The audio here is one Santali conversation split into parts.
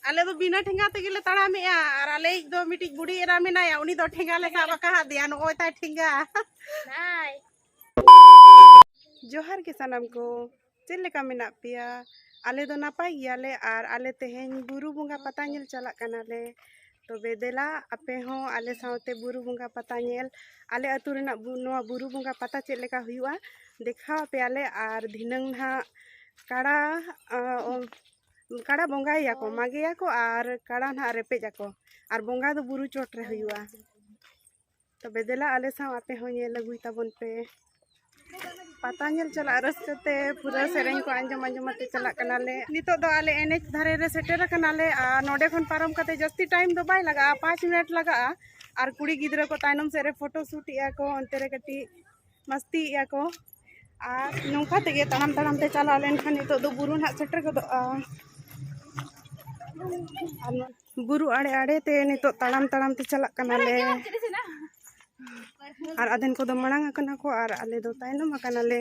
ᱟᱞᱮ ᱫᱚ ᱵᱤᱱᱟᱹ ᱴᱷᱮᱸᱜᱟ ᱛᱮᱜᱮ ᱞᱮ ᱛᱟᱲᱟᱢᱮᱜᱼᱟ ᱟᱨ ᱟᱞᱮᱭᱤᱡ ᱫᱚ ᱢᱤᱫᱴᱤᱡ ᱵᱩᱰᱷᱤ ᱮᱨᱟ ᱢᱮᱱᱟᱭᱟ ᱩᱱᱤ ᱫᱚ ᱴᱷᱮᱸᱜᱟ ᱞᱮ ᱥᱟᱵ ᱟᱠᱟᱫᱮᱭᱟ ᱱᱚᱜᱼᱚᱭ ᱛᱟᱭ ᱴᱷᱮᱸᱜᱟ ᱡᱚᱦᱟᱨ ᱜᱮ ᱥᱟᱱᱟᱢ ᱠᱚ ᱪᱮᱫ ᱞᱮᱠᱟ ᱢᱮᱱᱟᱜ ᱯᱮᱭᱟ ᱟᱞᱮ ᱫᱚ ᱱᱟᱯᱟᱭ ᱜᱮᱭᱟᱞᱮ ᱟᱨ ᱟᱞᱮ ᱛᱮᱦᱮᱧ ᱵᱩᱨᱩ ᱵᱚᱸᱜᱟ ᱯᱟᱛᱟ ᱧᱮᱞ ᱪᱟᱞᱟᱜ ᱠᱟᱱᱟᱞᱮ ᱛᱚᱵᱮ ᱫᱮᱞᱟ ᱟᱯᱮ ᱦᱚᱸ ᱟᱞᱮ ᱥᱟᱶᱛᱮ ᱵᱩᱨᱩ ᱵᱚᱸᱜᱟ ᱯᱟᱛᱟ ᱧᱮᱞ ᱟᱞᱮ ᱟᱹᱛᱩ ᱨᱮᱱᱟᱜ ᱱᱚᱣᱟ ᱵᱩᱨᱩ ᱵᱚᱸᱜᱟ ᱯᱟᱛᱟ ᱪᱮᱫ ᱞᱮᱠᱟ ᱦᱩᱭᱩᱜᱼᱟ ᱫᱮᱠᱷᱟᱣ ᱟᱯᱮᱭᱟᱞᱮ ᱟᱨ ᱫᱷᱤᱱᱟᱹᱝ ᱱᱟᱦᱟᱜ ᱠᱟᱲᱟ ᱠᱟᱲᱟ ᱵᱚᱸᱜᱟᱭᱟᱠᱚ ᱢᱟᱜᱮᱭᱟᱠᱚ ᱟᱨ ᱠᱟᱲᱟ ᱱᱟᱦᱟᱜ ᱨᱮᱯᱮᱡ ᱟᱠᱚ ᱟᱨ ᱵᱚᱸᱜᱟ ᱫᱚ ᱵᱩᱨᱩ ᱪᱚᱴ ᱨᱮ ᱦᱩᱭᱩᱜᱼᱟ ᱛᱚᱵᱮ ᱫᱮᱞᱟ ᱟᱞᱮ ᱥᱟᱶ ᱟᱯᱮ ᱦᱚᱸ ᱧᱮᱞ ᱟᱹᱜᱩᱭ ᱛᱟᱵᱚᱱ ᱯᱮ ᱯᱟᱛᱟ ᱧᱮᱞ ᱪᱟᱞᱟᱜ ᱨᱟᱹᱥᱠᱟᱹ ᱛᱮ ᱯᱩᱨᱟᱹ ᱥᱮᱨᱮᱧ ᱠᱚ ᱟᱸᱡᱚᱢ ᱟᱸᱡᱚᱢ ᱟᱛᱮ ᱪᱟᱞᱟᱜ ᱠᱟᱱᱟᱞᱮ ᱱᱤᱛᱚᱜ ᱫᱚ ᱟᱞᱮ ᱮᱱᱮᱡ ᱫᱷᱟᱨᱮ ᱨᱮ ᱥᱮᱴᱮᱨ ᱟᱠᱟᱱᱟᱞᱮ ᱟᱨ ᱱᱚᱰᱮ ᱠᱷᱚᱱ ᱯᱟᱨᱚᱢ ᱠᱟᱛᱮ ᱡᱟᱹᱥᱛᱤ ᱴᱟᱭᱤᱢ ᱫᱚ ᱵᱟᱭ ᱞᱟᱜᱟᱜᱼᱟ ᱯᱟᱸᱪ ᱢᱤᱱᱤᱴ ᱞᱟᱜᱟᱜᱼᱟ ᱟᱨ ᱠᱩᱲᱤ ᱜᱤᱫᱽᱨᱟᱹ ᱠᱚ ᱛᱟᱭᱱᱚᱢ ᱥᱮᱫ ᱨᱮ ᱯᱷᱳᱴᱳ ᱥᱩᱴ ᱮᱫᱟ ᱠᱚ ᱚᱱᱛᱮ ᱨᱮ ᱠᱟᱹᱴᱤᱡ ᱢᱟᱥᱛᱤᱭᱮᱫᱟ ᱠᱚ ᱟᱨ ᱱᱚᱝᱠᱟ ᱛᱮᱜᱮ ᱛᱟᱲᱟᱢ ᱛᱟᱲᱟᱢ ᱛᱮ ᱪᱟᱞᱟᱣ ᱞᱮᱱᱠᱷᱟᱱ ᱱᱤᱛᱚᱜ ᱫᱚ ᱵᱩᱨᱩ ᱱᱟᱦᱟᱜ ᱥᱮᱴᱮᱨ ᱜᱚᱫᱚᱜᱼᱟ ᱟᱨ ᱵᱩᱨᱩ ᱟᱲᱮ ᱟᱲᱮ ᱛᱮ ᱱᱤᱛᱚᱜ ᱛᱟᱲᱟᱢ ᱛᱟᱲᱟᱢ ᱛᱮ ᱪᱟᱞᱟᱜ ᱠᱟᱱᱟᱞᱮ ᱟᱨ ᱟᱫᱷᱮᱱ ᱠᱚᱫᱚ ᱢᱟᱲᱟᱝ ᱟᱠᱟᱱᱟ ᱠᱚ ᱟᱨ ᱟᱞᱮ ᱫᱚ ᱛᱟᱭᱱᱚᱢ ᱟᱠᱟᱱᱟᱞᱮ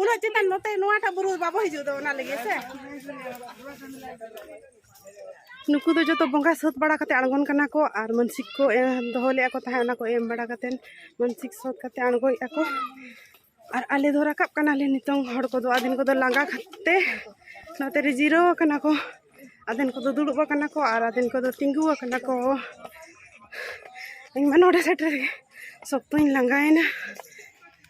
ᱩᱱᱟᱹᱜ ᱪᱮᱛᱟᱱ ᱱᱚᱛᱮ ᱱᱚᱣᱟᱴᱟᱜ ᱵᱩᱨᱩ ᱵᱟᱵᱚ ᱦᱤᱡᱩᱜ ᱫᱚ ᱚᱱᱟ ᱞᱟᱹᱜᱤᱫ ᱥᱮ ᱱᱩᱠᱩ ᱫᱚ ᱡᱚᱛᱚ ᱵᱚᱸᱜᱟ ᱥᱟᱹᱛ ᱵᱟᱲᱟ ᱠᱟᱛᱮ ᱟᱬᱜᱚᱱ ᱠᱟᱱᱟ ᱠᱚ ᱟᱨ ᱢᱟᱱᱥᱤᱠ ᱠᱚ ᱫᱚᱦᱚ ᱞᱮᱫᱼᱟ ᱠᱚ ᱛᱟᱦᱮᱸᱫ ᱚᱱᱟ ᱠᱚ ᱮᱢ ᱵᱟᱲᱟ ᱠᱟᱛᱮ ᱢᱟᱱᱥᱤᱠ ᱥᱟᱹᱛ ᱠᱟᱛᱮ ᱟᱬᱜᱚᱭᱮᱫᱼᱟ ᱠᱚ ᱟᱨ ᱟᱞᱮ ᱫᱚ ᱨᱟᱠᱟᱵ ᱠᱟᱱᱟᱞᱮ ᱱᱤᱛᱚᱝ ᱦᱚᱲ ᱠᱚᱫᱚ ᱟᱫᱷᱮᱱ ᱠᱚᱫᱚ ᱞᱟᱸᱜᱟ ᱠᱟᱛᱮ ᱱᱚᱛᱮ ᱨᱮ ᱡᱤᱨᱟᱹᱣ ᱟᱠᱟᱱᱟ ᱠᱚ ᱟᱫᱷᱮᱱ ᱠᱚᱫᱚ ᱫᱩᱲᱩᱵ ᱟᱠᱟᱱᱟ ᱠᱚ ᱟᱨ ᱟᱫᱷᱮᱱ ᱠᱚᱫᱚ ᱛᱤᱸᱜᱩ ᱟᱠᱟᱱᱟ ᱠᱚ ᱤᱧ ᱢᱟ ᱱᱚᱰᱮ ᱥᱮᱴᱮᱨ ᱥᱚᱠᱛᱚᱧ ᱞᱟᱸᱜᱟᱭᱮᱱᱟ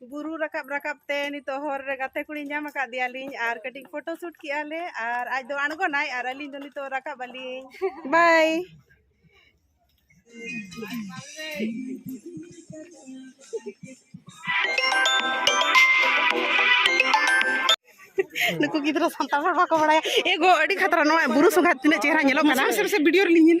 ᱵᱩᱨᱩ ᱨᱟᱠᱟᱵ ᱨᱟᱠᱟᱵ ᱛᱮ ᱱᱤᱛᱚᱜ ᱦᱚᱨ ᱨᱮ ᱜᱟᱛᱮ ᱠᱩᱲᱤ ᱧᱟᱢ ᱟᱠᱟᱫ ᱫᱮᱭᱟᱞᱤᱧ ᱟᱨ ᱠᱟᱹᱴᱤᱡ ᱯᱷᱳᱴᱳ ᱥᱩᱴ ᱠᱮᱜᱼᱟ ᱞᱮ ᱟᱨ ᱟᱡ ᱫᱚ ᱟᱬᱜᱚᱱᱟᱭ ᱟᱨ ᱟᱹᱞᱤᱧ ᱫᱚ ᱱᱤᱛᱚᱜ ᱨᱟᱠᱟᱵ ᱟᱹᱞᱤᱧ ᱵᱟᱭ ᱱᱩᱠᱩ ᱜᱤᱫᱽᱨᱟᱹ ᱥᱟᱱᱛᱟᱲ ᱦᱚᱲ ᱵᱟᱠᱚ ᱵᱟᱲᱟᱭᱟ ᱮᱜᱳ ᱟᱹᱰᱤ ᱠᱷᱟᱛᱨᱟ ᱱᱚᱣᱟ ᱵᱩᱨᱩ ᱥᱚᱸᱜᱷᱟᱛ ᱛᱤᱱᱟᱹᱜ ᱪᱮᱦᱨᱟ ᱧᱮᱞᱚᱜ ᱠᱟᱱᱟ ᱵᱷᱤᱰᱤᱭᱳ ᱨᱮᱞᱤᱧ ᱧᱮᱞ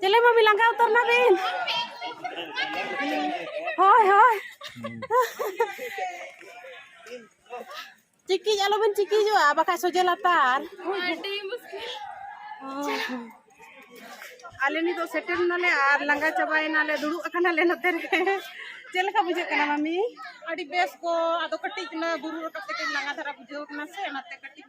ᱪᱮᱞᱮ ᱵᱟᱹᱵᱤ ᱞᱟᱸᱜᱟ ᱩᱛᱟᱹᱨ ᱱᱟᱵᱤᱱ ᱦᱳᱭ ᱦᱳᱭ ᱪᱤᱠᱤᱡ ᱟᱞᱚᱵᱤᱱ ᱪᱤᱠᱤᱡᱚᱜᱼᱟ ᱵᱟᱠᱷᱟᱡ ᱥᱚᱡᱮ ᱞᱟᱛᱟᱨ ᱟᱹᱰᱤ ᱢᱩᱥᱠᱤᱞ ᱟᱞᱮ ᱱᱤᱛᱚᱜ ᱥᱮᱴᱮᱨ ᱱᱟᱞᱮ ᱟᱨ ᱞᱟᱸᱜᱟ ᱪᱟᱵᱟᱭᱮᱱᱟᱞᱮ ᱫᱩᱲᱩᱵ ᱟᱠᱟᱱᱟᱞᱮ ᱱᱚᱛᱮ ᱨᱮ ᱪᱮᱫ ᱞᱮᱠᱟ ᱵᱩᱡᱷᱟᱹᱜ ᱠᱟᱱᱟ ᱢᱟᱢᱤ ᱟᱹᱰᱤ ᱵᱮᱥ ᱠᱚ ᱟᱫᱚ ᱠᱟᱹᱴᱤᱡ ᱚᱱᱟ ᱵᱩᱨᱩ ᱨᱟᱠᱟᱵ ᱛᱮᱜᱮ ᱞᱟᱸᱜᱟ ᱫᱷᱟᱨᱟ ᱵᱩᱡᱷᱟᱹᱣ ᱠᱟᱱᱟ ᱥᱮ ᱚᱱᱟᱛᱮ ᱠᱟᱹᱴᱤᱡ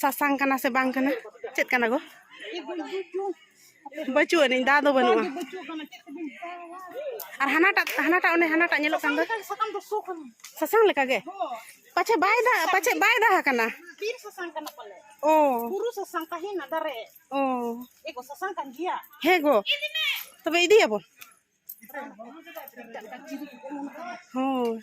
ᱥᱟᱥᱟᱝ ᱠᱟᱱᱟ ᱥᱮ ᱵᱟᱝ ᱠᱟᱱᱟ ᱪᱮᱫ ᱠᱟᱱᱟ ᱜᱚ ᱵᱟᱹᱪᱩᱜ ᱟᱹᱱᱤᱡ ᱫᱟ ᱫᱚ ᱵᱟᱹᱱᱩᱜᱼᱟ ᱟᱨ ᱦᱟᱱᱟᱴᱟᱜ ᱦᱟᱱᱟᱴᱟᱜ ᱚᱱᱮ ᱦᱟᱱᱟᱴᱟᱜ ᱧᱮᱞᱚᱜ ᱠᱟᱱ ᱫᱚ ᱥᱟᱥᱟᱝ ᱞᱮᱠᱟ ᱜᱮ ᱯᱟᱪᱷᱮ ᱵᱟᱭ ᱫᱟ ᱯᱟᱪᱷᱮ ᱵᱟᱭ ᱫᱟ ᱠᱟᱱᱟ ᱵᱤᱨ ᱥᱟᱥᱟᱝ ᱠᱟᱱᱟ ᱯᱟᱞᱮ ᱚ ᱵᱩᱨᱩ ᱥᱟᱥᱟᱝ ᱛᱟᱦᱮᱱᱟ ᱫᱟᱨᱮ ᱚ ᱮᱜᱚ ᱥᱟᱥᱟᱝ ᱠᱟᱱ ᱜᱮᱭᱟ ᱦᱮᱸ ᱜᱚ ᱛᱚᱵᱮ ᱤᱫᱤᱭᱟᱵᱚᱱ ᱦᱳᱭ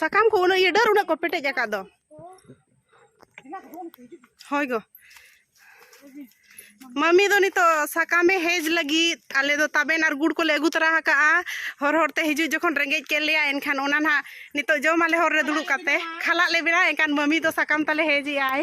ᱥᱟᱠᱟᱢ ᱠᱚ ᱩᱱᱟᱹᱜ ᱤᱭᱟᱹ ᱰᱟᱹᱨ ᱩᱱᱟᱹᱜ ᱠᱚ ᱯᱮᱴᱮᱡ ᱟᱠᱟᱫ ᱫᱚ ᱦᱳᱭ ᱜᱚ ᱢᱟᱢᱤ ᱫᱚ ᱱᱤᱛᱚᱜ ᱥᱟᱠᱟᱢᱮ ᱦᱮᱡ ᱞᱟᱹᱜᱤᱫ ᱟᱞᱮ ᱫᱚ ᱛᱟᱵᱮᱱ ᱟᱨ ᱜᱩᱲ ᱠᱚᱞᱮ ᱟᱹᱜᱩ ᱛᱚᱨᱟ ᱟᱠᱟᱜᱼᱟ ᱦᱚᱨ ᱦᱚᱨᱛᱮ ᱦᱤᱡᱩᱜ ᱡᱚᱠᱷᱚᱱ ᱨᱮᱸᱜᱮᱡ ᱠᱮᱫ ᱞᱮᱭᱟ ᱮᱱᱠᱷᱟᱱ ᱚᱱᱟ ᱱᱟᱦᱟᱜ ᱱᱤᱛᱚᱜ ᱡᱚᱢᱟᱞᱮ ᱦᱚᱨ ᱨᱮ ᱫᱩᱲᱩᱵ ᱠᱟᱛᱮ ᱠᱷᱟᱞᱟᱜ ᱞᱮ ᱵᱮᱱᱟᱣᱟ ᱮᱱᱠᱷᱟᱱ ᱢᱟᱢᱤ ᱫᱚ ᱥᱟᱠᱟᱢ ᱛᱟᱞᱮ ᱦᱮᱡ ᱮᱜᱼᱟᱭ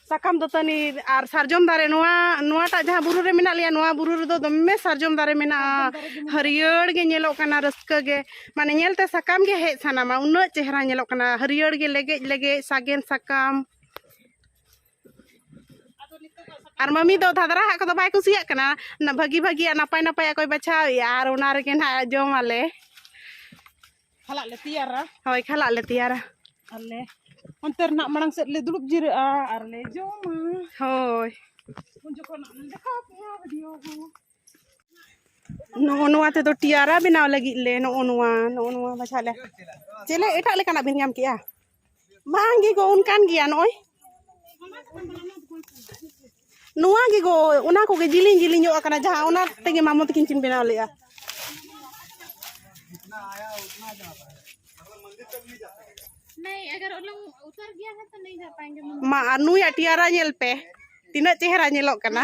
ᱥᱟᱠᱟᱢ ᱫᱟᱹᱛᱟᱹᱱᱤ ᱟᱨ ᱥᱟᱨᱡᱚᱢ ᱫᱟᱨᱮ ᱱᱚᱣᱟ ᱱᱚᱣᱟᱴᱟᱜ ᱡᱟᱦᱟᱸ ᱵᱩᱨᱩ ᱨᱮ ᱢᱮᱱᱟᱜ ᱞᱮᱭᱟ ᱱᱚᱣᱟ ᱵᱩᱨᱩ ᱨᱮᱫᱚ ᱫᱚᱢᱮ ᱥᱟᱨᱡᱚᱢ ᱫᱟᱨᱮ ᱢᱮᱱᱟᱜᱼᱟ ᱦᱟᱹᱨᱭᱟᱹᱲ ᱜᱮ ᱧᱮᱞᱚᱜ ᱠᱟᱱᱟ ᱨᱟᱹᱥᱠᱟᱹ ᱜᱮ ᱢᱟᱱᱮ ᱧᱮᱞᱛᱮ ᱥᱟᱠᱟᱢ ᱜᱮ ᱦᱮᱡ ᱥᱟᱱᱟᱢᱟ ᱩᱱᱟᱹᱜ ᱪᱮᱦᱨᱟ ᱧᱮᱞᱚᱜ ᱠᱟᱱᱟ ᱦᱟᱹᱨᱭᱟᱹᱲ ᱜᱮ ᱞᱮᱜᱮᱡ ᱞᱮᱜᱮᱡ ᱥᱟᱜᱮᱱ ᱥᱟᱠᱟᱢ ᱟᱨ ᱢᱟᱢᱤ ᱫᱚ ᱫᱷᱟᱫᱨᱟ ᱦᱟᱜ ᱠᱚᱫᱚ ᱵᱟᱭ ᱠᱩᱥᱤᱭᱟᱜ ᱠᱟᱱᱟ ᱵᱷᱟᱹᱜᱤ ᱵᱷᱟᱹᱜᱤᱭᱟᱜ ᱱᱟᱯᱟᱭ ᱱᱟᱯᱟᱭᱟᱜ ᱠᱚᱭ ᱵᱟᱪᱷᱟᱣᱮᱜᱼᱟ ᱟᱨ ᱚᱱᱟ ᱨᱮᱜᱮ ᱱᱟᱦᱟᱜ ᱡᱚᱢᱟᱞᱮ ᱠᱷᱟᱞᱟᱜ ᱞᱮ ᱛᱮᱭᱟᱨᱟ ᱦᱳᱭ ᱠᱷᱟᱞᱟᱜ ᱞᱮ ᱛᱮᱭᱟᱨᱟ ᱟᱨᱞᱮ ᱚᱱᱛᱮ ᱨᱮᱱᱟᱜ ᱢᱟᱲᱟᱝ ᱥᱮᱫ ᱞᱮ ᱫᱩᱲᱩᱵ ᱡᱤᱨᱟᱹᱜᱼᱟ ᱟᱨ ᱞᱮ ᱡᱚᱢᱟ ᱦᱳᱭ ᱩᱱ ᱡᱚᱠᱷᱚᱱ ᱫᱮᱠᱷᱟᱣ ᱯᱮᱭᱟ ᱵᱷᱤᱰᱤᱭᱳ ᱦᱚᱸ ᱱᱚᱜᱼᱚ ᱱᱚᱣᱟ ᱛᱮᱫᱚ ᱴᱤᱭᱟᱨᱟ ᱵᱮᱱᱟᱣ ᱞᱟᱹᱜᱤᱫ ᱞᱮ ᱱᱚᱜᱼᱚ ᱱᱚᱣᱟ ᱱᱚᱜᱼᱚ ᱱᱚᱣᱟ ᱵᱟᱪᱷᱟ ᱞᱮ ᱪᱮᱞᱮ ᱮᱴᱟᱜ ᱞᱮᱠᱟᱱᱟᱜ ᱵᱤᱱ ᱧᱟᱢ ᱠᱮᱜᱼᱟ ᱵᱟᱝ ᱜᱮ ᱜᱚ ᱚᱱᱠᱟᱱ ᱜᱮᱭᱟ ᱱᱚᱜᱼᱚᱭ ᱱᱚᱣᱟ ᱜᱮ ᱜᱚ ᱚᱱᱟ ᱠᱚᱜᱮ ᱡᱤᱞᱤᱧ ᱡᱤᱞᱤᱧ ᱧᱚᱜ ᱟᱠᱟᱱᱟ ᱡᱟᱦᱟᱸ ᱚᱱᱟ ᱛᱮᱜᱮ ᱢᱟᱢᱚ ᱛᱟᱹᱠᱤᱱ ᱠᱤᱱ ᱵᱮᱱᱟᱣ ᱞᱮᱫᱼᱟ ᱢᱟ ᱟᱨ ᱱᱩᱭᱟᱜ ᱴᱤᱭᱟᱨᱟ ᱧᱮᱞ ᱯᱮ ᱛᱤᱱᱟᱹᱜ ᱪᱮᱦᱨᱟ ᱧᱮᱞᱚᱜ ᱠᱟᱱᱟ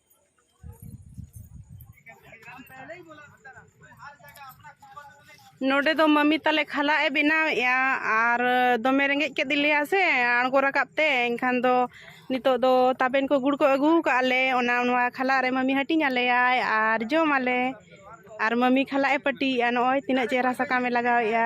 ᱱᱚᱰᱮ ᱫᱚ ᱢᱟᱢᱤ ᱛᱟᱞᱮ ᱠᱷᱟᱞᱟᱜ ᱮ ᱵᱮᱱᱟᱣᱮᱫᱼᱟ ᱟᱨ ᱫᱚᱢᱮ ᱨᱮᱸᱜᱮᱡ ᱠᱮᱫ ᱞᱮᱭᱟ ᱥᱮ ᱟᱬᱜᱚ ᱨᱟᱠᱟᱵ ᱛᱮ ᱮᱱᱠᱷᱟᱱ ᱫᱚ ᱱᱤᱛᱚᱜ ᱫᱚ ᱛᱟᱵᱮᱱ ᱠᱚ ᱜᱩᱲ ᱠᱚ ᱟᱹᱜᱩ ᱠᱟᱜᱼᱟ ᱞᱮ ᱚᱱᱟ ᱱᱚᱣᱟ ᱠᱷᱟᱞᱟᱜ ᱨᱮ ᱢᱟᱢᱤ ᱦᱟᱹᱴᱤᱧ ᱟᱞᱮᱭᱟᱭ ᱟᱨ ᱡᱚᱢ ᱟᱞᱮ ᱟᱨ ᱢᱟᱢᱤ ᱠᱷᱟᱞᱟᱜ ᱮ ᱯᱟᱹᱴᱤᱭᱮᱫᱼᱟ ᱱᱚᱜᱼᱚᱭ ᱛᱤᱱᱟᱹᱜ ᱪᱮᱦᱨᱟ ᱥᱟᱠᱟᱢ ᱮ ᱞᱟᱜᱟᱣᱮᱫᱼᱟ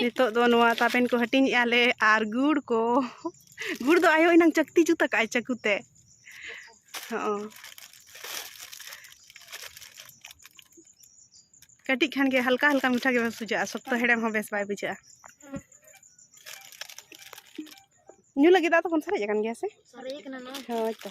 ᱱᱤᱛᱚᱜ ᱫᱚ ᱱᱚᱣᱟ ᱛᱟᱵᱮᱱ ᱠᱚ ᱦᱟᱹᱴᱤᱧᱮᱜᱼᱟ ᱞᱮ ᱟᱨ ᱜᱩᱲ ᱠᱚ ᱜᱩᱲ ᱫᱚ ᱟᱭᱳ ᱮᱱᱟᱝ ᱪᱟᱹᱠᱛᱤ ᱡᱩᱛ ᱟᱠᱟᱜᱼᱟᱭ ᱪᱟᱹᱠᱩ ᱛᱮ ᱦᱚᱸ ᱠᱟᱹᱴᱤᱡ ᱠᱷᱟᱱ ᱜᱮ ᱦᱟᱞᱠᱟ ᱦᱟᱞᱠᱟ ᱢᱤᱴᱷᱟ ᱜᱮ ᱵᱮᱥ ᱵᱩᱡᱷᱟᱹᱜᱼᱟ ᱥᱚᱠᱛᱚ ᱦᱮᱲᱮᱢ ᱦᱚᱸ ᱵᱮᱥ ᱵᱟᱭ ᱵᱩᱡᱷᱟᱹᱜᱼᱟ ᱧᱩ ᱞᱟᱹᱜᱤᱫ ᱫᱟᱜ ᱛᱚᱵᱚᱱ ᱥᱟᱨᱮᱡ ᱟᱠᱟᱱ ᱜᱮᱭᱟ ᱥᱮ ᱦᱳᱭ ᱛᱚ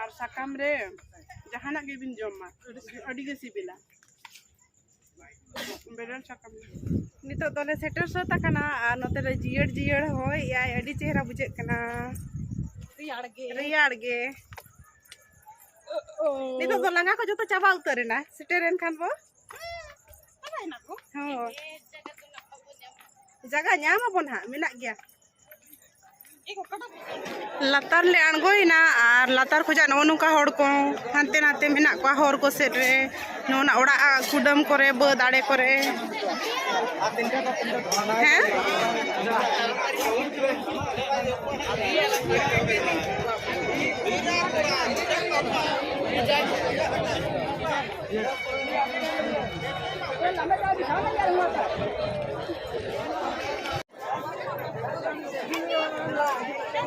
ᱟᱨ ᱥᱟᱠᱟᱢ ᱨᱮ ᱡᱟᱦᱟᱱᱟᱜ ᱜᱮᱵᱤᱱ ᱡᱚᱢ ᱢᱟ ᱟᱹᱰᱤ ᱜᱮ ᱥᱤᱵᱤᱞᱟ ᱵᱮᱨᱮᱞ ᱥᱟᱠᱟᱢ ᱱᱤᱛᱚᱜ ᱫᱚᱞᱮ ᱥᱮᱴᱮᱨ ᱥᱟᱹᱛ ᱟᱠᱟᱱᱟ ᱟᱨ ᱱᱚᱛᱮ ᱨᱮ ᱡᱤᱭᱟᱹᱲ ᱡᱤᱭᱟᱹᱲ ᱦᱚᱭ ᱮᱭᱟᱭ ᱟᱹᱰᱤ ᱪᱮᱦᱨᱟ ᱵᱩᱡᱷᱟᱹᱜ ᱠᱟᱱᱟ ᱨᱮᱭᱟᱲ ᱜᱮ ᱨᱮᱭᱟᱲ ᱜᱮ ᱱᱤᱛᱚᱜ ᱫᱚ ᱞᱟᱸᱜᱟ ᱠᱚ ᱡᱚᱛᱚ ᱪᱟᱵᱟ ᱩᱛᱟᱹᱨ ᱮᱱᱟ ᱥᱮᱴᱮᱨᱮᱱ ᱠᱷᱟᱱ ᱵᱚ ᱦᱚᱸ ᱡᱟᱭᱜᱟ ᱧᱟᱢ ᱟᱵᱚᱱ ᱦᱟᱸᱜ ᱢᱮᱱᱟᱜ ᱜᱮᱭᱟ ᱞᱟᱛᱟᱨ ᱞᱮ ᱟᱬᱜᱚᱭᱮᱱᱟ ᱟᱨ ᱞᱟᱛᱟᱨ ᱠᱷᱚᱱᱟᱜ ᱱᱚᱜᱼᱚ ᱱᱚᱝᱠᱟ ᱦᱚᱲ ᱠᱚ ᱦᱟᱱᱛᱮ ᱱᱟᱛᱮ ᱢᱮᱱᱟᱜ ᱠᱚᱣᱟ ᱦᱚᱨ ᱠᱚ ᱥᱮᱫ ᱨᱮ ᱱᱚᱣᱟ ᱚᱲᱟᱜ ᱠᱩᱰᱟᱹᱢ ᱠᱚᱨᱮ ᱵᱟᱹᱫᱽ ᱟᱲᱮ ᱠᱚᱨᱮ ᱦᱮᱸ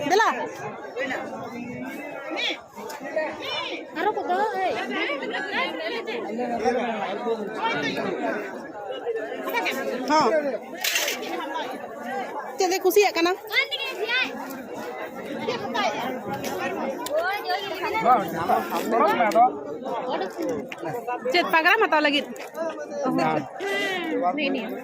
ᱫᱮᱞᱟ ᱟᱨᱚ ᱠᱚ ᱫᱚ ᱮᱭ ᱦᱚᱸ ᱪᱮᱫ ᱮ ᱠᱩᱥᱤᱭᱟᱜ ᱠᱟᱱᱟ ᱪᱮᱫ ᱯᱟᱜᱽᱨᱟᱢ ᱦᱟᱛᱟᱣ ᱞᱟᱹᱜᱤᱫ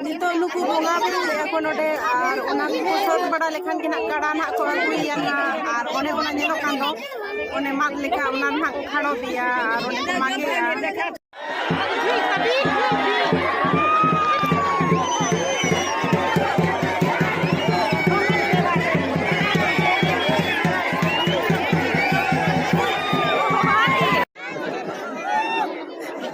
ᱱᱤᱛᱚᱜ ᱱᱩᱠᱩ ᱵᱚᱸᱜᱟ ᱵᱩᱨᱩ ᱞᱮᱫᱼᱟ ᱠᱚ ᱱᱚᱰᱮ ᱟᱨ ᱚᱱᱟ ᱠᱚ ᱥᱟᱹᱛ ᱵᱟᱲᱟ ᱞᱮᱠᱷᱟᱱ ᱜᱮ ᱱᱟᱜ ᱠᱟᱲᱟ ᱱᱟᱜ ᱠᱚ ᱟᱹᱜᱩᱭᱮᱭᱟ ᱱᱟᱜ ᱟᱨ ᱚᱱᱮ ᱚᱱᱟ ᱧᱮᱞᱚᱜ ᱠᱟᱱ ᱫᱚ ᱚᱱᱮ ᱢᱟᱜ ᱞᱮᱠᱟ ᱚᱱᱟ ᱱᱟᱜ ᱠᱚ ᱠᱷᱟᱲᱚᱵᱮᱭᱟ ᱟᱨ ᱚᱱᱮ ᱠᱚ ᱢᱟᱜᱮᱭᱟ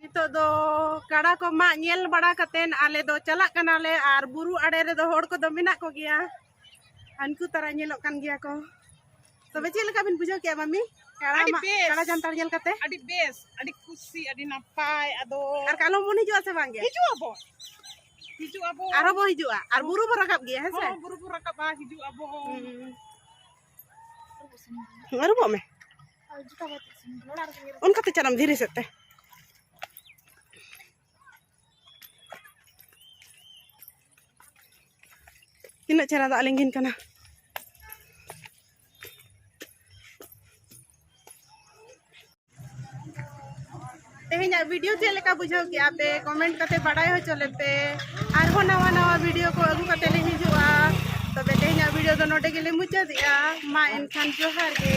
ᱱᱤᱛᱚᱜ ᱫᱚ ᱠᱟᱲᱟ ᱠᱚ ᱢᱟᱜ ᱧᱮᱞ ᱵᱟᱲᱟ ᱠᱟᱛᱮᱱ ᱟᱞᱮ ᱫᱚ ᱪᱟᱞᱟᱜ ᱠᱟᱱᱟᱞᱮ ᱟᱨ ᱵᱩᱨᱩ ᱟᱲᱮ ᱨᱮᱫᱚ ᱦᱚᱲ ᱠᱚᱫᱚ ᱢᱮᱱᱟᱜ ᱠᱚᱜᱮᱭᱟ ᱦᱟᱱᱠᱩ ᱛᱟᱨᱟ ᱧᱮᱞᱚᱜ ᱠᱟᱱ ᱜᱮᱭᱟ ᱠᱚ ᱛᱚᱵᱮ ᱪᱮᱫ ᱞᱮᱠᱟ ᱵᱤᱱ ᱵᱩᱡᱷᱟᱹᱣ ᱠᱮᱜᱼᱟ ᱢᱟᱢᱤ ᱠᱟᱲᱟ ᱡᱟᱱᱛᱟᱲ ᱧᱮᱞ ᱠᱟᱛᱮ ᱟᱹᱰᱤ ᱵᱮᱥ ᱟᱹᱰᱤ ᱠᱩᱥᱤ ᱟᱹᱰᱤ ᱱᱟᱯᱟᱭ ᱟᱫᱚ ᱟᱨ ᱠᱟᱞᱚᱢ ᱵᱚᱱ ᱦᱤᱡᱩᱜᱼᱟ ᱥᱮ ᱵᱟᱝ ᱜᱮ ᱦᱤᱡᱩᱜ ᱟᱵᱚ ᱦᱤᱡᱩᱜ ᱟᱵᱚ ᱟᱨᱚ ᱵᱚ ᱦᱤᱡᱩᱜᱼᱟ ᱟᱨ ᱵᱩᱨᱩ ᱵᱚ ᱨᱟᱠᱟᱵ ᱜᱮᱭᱟ ᱦᱮᱸ ᱥᱮ ᱵᱩᱨᱩ ᱵᱚ ᱨᱟᱠᱟᱵᱟ ᱦᱤᱡᱩᱜ ᱟᱵᱚ ᱟᱹᱨᱩᱵᱚᱜ ᱢᱮ ᱚᱱᱠᱟᱛᱮ ᱪᱟᱞᱟᱜ ᱫᱷᱤᱨᱤ ᱥᱮᱫ ᱛᱮ ᱛᱤᱱᱟᱹᱜ ᱪᱮᱦᱨᱟ ᱫᱟᱜ ᱞᱤᱸᱜᱤᱱ ᱠᱟᱱᱟ ᱛᱮᱦᱮᱧᱟᱜ ᱵᱷᱤᱰᱤᱭᱳ ᱪᱮᱫ ᱞᱮᱠᱟ ᱵᱩᱡᱷᱟᱹᱣ ᱠᱮᱜᱼᱟ ᱯᱮ ᱠᱚᱢᱮᱱᱴ ᱠᱟᱛᱮ ᱵᱟᱰᱟᱭ ᱦᱚᱪᱚ ᱞᱮᱯᱮ ᱟᱨᱦᱚᱸ ᱱᱟᱣᱟ ᱱᱟᱣᱟ ᱵᱷᱤᱰᱤᱭᱳ ᱠᱚ ᱟᱹᱜᱩ ᱠᱟᱛᱮ ᱞᱮ ᱦᱤᱡᱩᱜᱼᱟ ᱛᱚᱵᱮ ᱛᱮᱦᱮᱧᱟᱜ ᱵᱷᱤᱰᱤᱭᱳ ᱫᱚ ᱱᱚᱰᱮ ᱜᱮᱞᱮ ᱢᱩᱪᱟᱹᱫᱮᱜᱼᱟ ᱢᱟ ᱮᱱᱠᱷᱟᱱ ᱡᱚᱦᱟᱨ ᱜᱮ